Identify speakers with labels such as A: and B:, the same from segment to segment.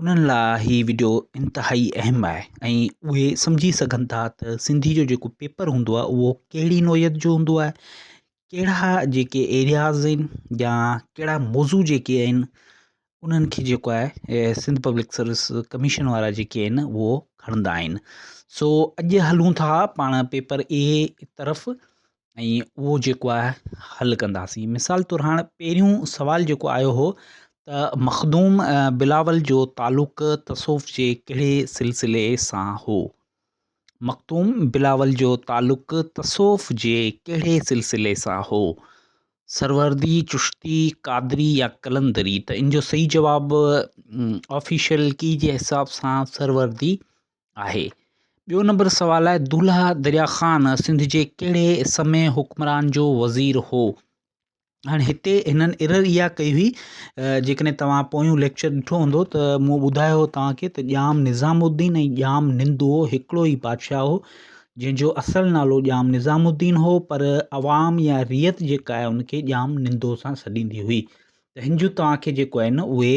A: انهن لاء هي وڊيو انتهائي اهم آهي ۽ اهي سمجهي سگهن ٿا ته سنڌي جو جيڪو پيپر هوندو آهي اهو ڪهڙي نوعيت جو هوندو آهي ڪهڙا جيڪي ايرياز آهن يا ڪهڙا موضوع جيڪي آهن انهن کي جيڪو آهي سنڌ پبلڪ سروس ڪميشن وارا جيڪي آهن اهو کڻندا آهن سو اڄ هلون ٿا پاڻ پيپر اي طرف ۽ اهو جيڪو آهي حل ڪنداسين مثال طور هاڻ پهريون سوال جيڪو آيو هو ته مخدوم بلاول جو تعلق تصوف جي ڪهڙي سلسلي سان هو مخدوم بلاول جو تعلق تصوف جي ڪهڙي سلسلي سان هو سروردي چشتي قادري يا قلندري ته ان جو صحيح جواب آفيشل ڪي جي حساب سان سروردي آهي. ٻيو نمبر سوال آهي دولهه دريا خان سنڌ جي ڪهڙي سمي حڪمران جو وزير هو هاڻي هتي هنن ايرر اها ڪئي هئي جيڪڏهن توهان پويون ليڪچر ڏٺو هوندو ته مون ٻڌايو هو توهانکي ته ڄام نظام الدين ۽ ڄام نندو هڪڙو ئي بادشاهه هو جنهن جو اصل نالو ڄام نظام الدين هو پر عوام يا ريت جيڪا آهي ان کي ڄام نندو سان سڏيندي هئي ته هن جون توهانکي جيڪو آهن اهي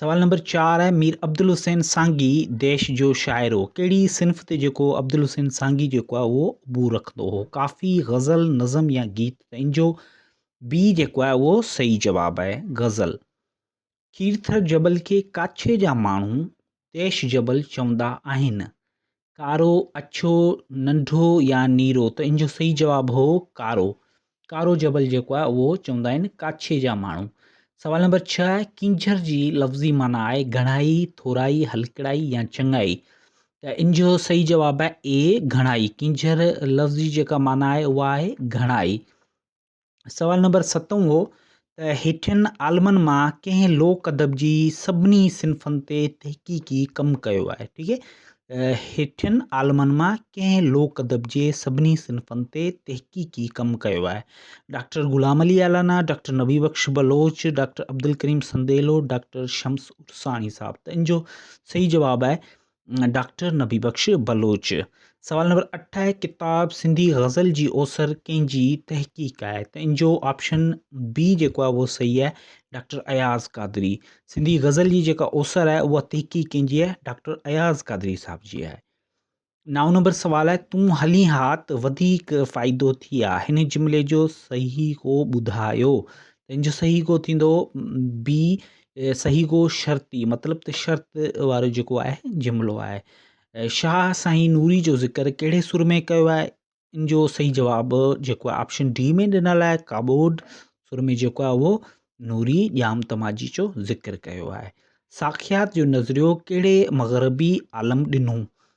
A: سوال نمبر چار آهي مير عبدالحسين سانگي ديش جو شاعر هو ڪهڙي صنف تي جيڪو عبدالحسين سانگي جيڪو آهي اهو عبور رکندو هو ڪافي غزل نظم يا گيت ته ان جو بي جيڪو آهي اهو صحيح جواب آهي غزل کيرٿر جبل کي ڪاڇي جا ماڻهو ديش جبل چوندا آهن ڪارو، اڇو، ننڍو يا نيرو ته ان جو صحيح جواب هو ڪارو. ڪارو جبل جيڪو آهي اهو چوندا آهن ڪاڇي جا ماڻهو. سوال نمبر ڇهه آهي ڪينجهر جي لفظي معنيٰ آهي گهڻائي، ٿورائي، هلڪڙائي يا چڱائي ته ان جو صحيح جواب آهي اي گهڻائي. ڪينجهر لفظي جيڪا معنيٰ آهي اها آهي گهڻائي. سوال نمبر ستون هو ته هيٺين عالمن مان ڪنهن لوڪ ادب جي سڀني صنفن تي تحقيقي ڪم ڪيو آهي ٺيڪ آهي هيٺين عالمن مان ڪنهن لوڪ ادب جي سڀني صنفن تي تحقيقي ڪم ڪيو آهي doctor Ghulam Ali Allana doctor Nabi Bakhsh Baloch doctor Abdul Karim Sandilo doctor Shams Arsani صاحب ته ان جو صحيح جواب آهي ڊاڪٽر نبي بخش بلوچ. سوال نمبر اٺ آهي ڪتاب سنڌي غزل جي اوسر ڪنهن جي تحقيق آهي ته ان جو آپشن بي جيڪو آهي اهو صحيح آهي ڊاڪٽر اياز قادري سنڌي غزل جي جيڪا اوسر آهي اها تحقيق ڪنهن جي آهي ڊاڪٽر اياز قادري صاحب جي آهي نو نمبر سوال آهي تون هلي ها ته وڌيڪ فائدو ٿي ها هن جملي جو صحيح ڪو ٻڌايو ته ان جو صحيح ڪو ٿيندو بي صحيح گو شرطي مطلب ته شرط وارو جيڪو آهي جملو آهي. شاهه سائين نوري جو ذڪر ڪهڙي سر ۾ ڪيو آهي؟ ان جو صحيح جواب جيڪو آهي آپشن ڊي ۾ ڏنل آهي ڪابوڊ سر ۾ جيڪو آهي اهو نوري ڄام تماجي جو ذڪر ڪيو آهي. ساکيات جو نظريو ڪهڙي مغربي عالم ڏنو؟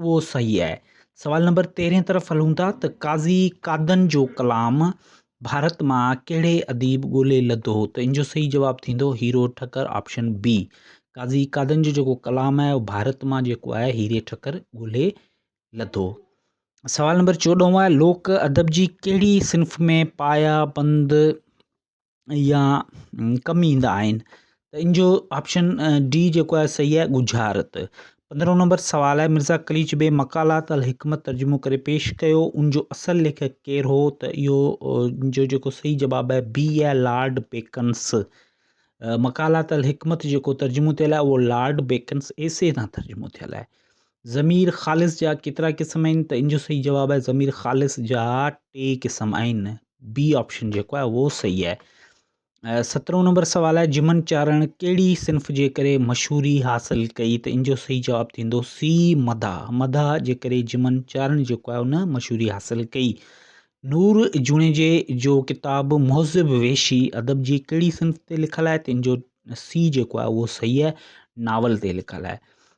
A: اهو صحيح آهي. سوال نمبر تيرهين طرف هلون ٿا ته قاضي قادن جو ڪلام ڀارت مان ڪهڙي اديب ڳولي لڌو ته ان جو صحيح جواب ٿيندو هيرو ٺڪر آپشن بي قاضي قادن جو جيڪو ڪلام آهي اهو ڀارت مان جيڪو آهي هيري ٺڪر ڳولي لڌو سوال نمبر چوڏهون آهي لوڪ ادب جي ڪهڙي صنف ۾ پايا بند يا ڪم ايندا آهن ته ان جو آپشن ڊي جيڪو آهي صحيح آهي ڳجهارت پندرهون نمبر سوال آهي مرزا قليچ بي مقالات الحڪمت ترجمو ڪري پيش ڪيو ان جو اصل ليکڪ ڪير هو ته اهو جو جيڪو صحيح جواب آهي بي آهي لارڊ بيڪنس مقالات الحڪمت جيڪو ترجمو ٿيل آهي اهو لارڊ بيڪنس ايسي تان ترجمو ٿيل آهي ضمير خالص جا ڪيترا قسم آهن ته ان جو صحيح جواب آهي ضمير خالص جا ٽي قسم آهن بي آپشن جيڪو آهي اهو صحيح آهي سترهون نمبر سوال آهي جمن چارڻ ڪهڙي صنف جي ڪري مشهوري حاصل ڪئي ته ان جو صحيح جواب ٿيندو سی مدا مدا جي ڪري جمن چارڻ جيڪو آهي ان مشهوري حاصل ڪئي نور جوڻيجي جو ڪتاب مهذب ويشي ادب جي ڪهڙي صنف تي لکل آهي ته ان جو سی جيڪو آهي اهو صحيح آهي ناول تي لکل آهي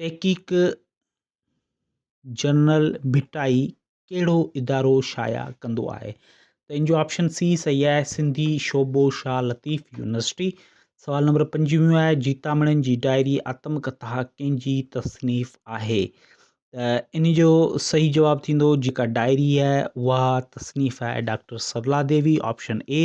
A: تحقيق جنرل ڀٽائي ڪهڙو ادارو شايع ڪندو آهي ته ان جو آپشن سي صحيح آهي سنڌي شعبو شاهه لطيف يونيورسٽي سوال نمبر پنجويهون آهي جيتامڻين جي ڊائري آتم ڪٿا ڪنهن جي تصنيف آهي ته ان جو صحيح جواب ٿيندو جيڪا ڊائري آهي اها تصنيف آهي doctor Sarla Devi option A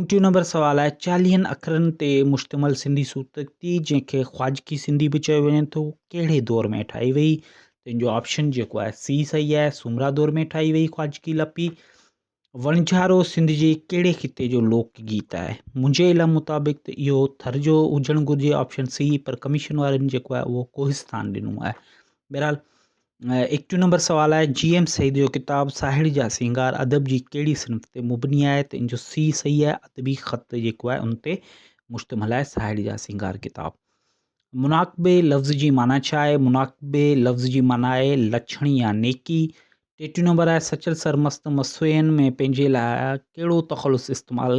A: interview number سوال آهي چاليهن اکرن تي مشتمل سنڌي صوتيتي جنهن کي خواجڪي سنڌي به چيو وڃي ٿو ڪهڙي دور ۾ ٺاهي وئي تنهن جو آپشن جيڪو آهي سی صحيح آهي سومرا دور ۾ ٺاهي وئي خواجڪي لپي وڻجهارو سنڌ جي ڪهڙي خطي جو لوڪ گيت آهي منهنجي علم مطابق ته اهو ٿر جو هجڻ گهرجي آپشن سی پر ڪميشن وارن جيڪو آهي اهو ڪوهستان ڏنو آهي بهرحال ايڪٽيهون نمبر سوال آهي جي ايم سيد جو ڪتاب ساهڙي جا سينگار ادب جي ڪهڙي صنف تي مبني آهي ته ان جو سي صحيح آهي ادبي خط جيڪو آهي ان تي مشتمل آهي ساهڙي جا سينگار ڪتاب مناقبي لفظ جي معنی ڇا آهي مناقبي لفظ جي معنی آهي لڇڻي يا نيڪي ٽيٽيون نمبر آهي سچل سرمست مسوين ۾ پنهنجي لاء ڪهڙو تخلص استعمال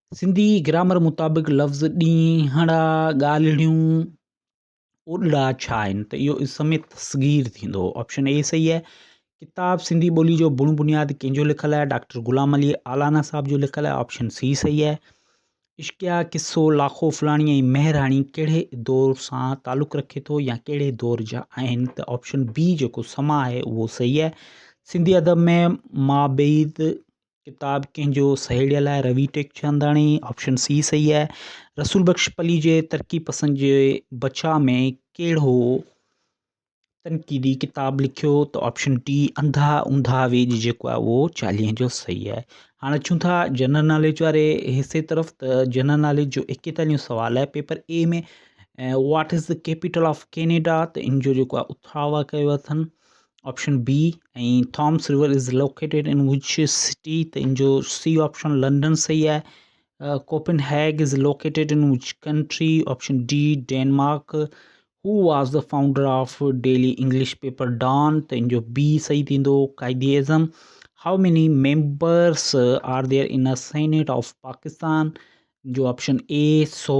A: سنڌي گرامر مطابق لفظ ڏينهڙا، ڳالهڙيون، اوڏڙا ڇا آهن ته اهو اسم تصغير ٿيندو. آپشن اي صحيح آهي. ڪتاب سنڌي ٻولي جو بڻ بنياد ڪنهن جو لکيل آهي؟ ڊاڪٽر غلام علي آلانا صاحب جو لکيل آهي. آپشن سي صحيح آهي. عشقيه قصو لاکو فلاڻي ۽ مهراڻي ڪهڙي دور سان تعلق رکي ٿو يا ڪهڙي دور جا آهن ته آپشن بي جيڪو سما آهي اهو صحيح آهي. سنڌي ادب ۾ مابعيد ڪتاب ڪنهن جو؟ سهيڙيء لاء روي ٽيڪچنداڻي، آپشن سي صحيح آهي. رسول بخش پلي جي ترقي پسند جي بچاء ۾ ڪهڙو تنقيدي ڪتاب لکيو ته آپشن ڊي انڌا اوندها ويڄ جيڪو آهي اهو چاليهين جو صحيح آهي. هاڻ اچون ٿا جنرل ناليج واري حصي طرف ته جنرل ناليج جو ايڪيتاليهون سوال آهي paper A ۾ what is the capital of Canada ته ان جو جيڪو آهي اٿاوا ڪيو اٿن option B ۽ Thames river is located in which city ته ان جو سي آپشن لنڊن صحيح آهي Copenhagen is located in which country option D Denmark who was the founder of daily English paper Dawn ته ان جو B صحيح ٿيندو Quaid Azam how many members are there in Senate of Pakistan جو option اي سو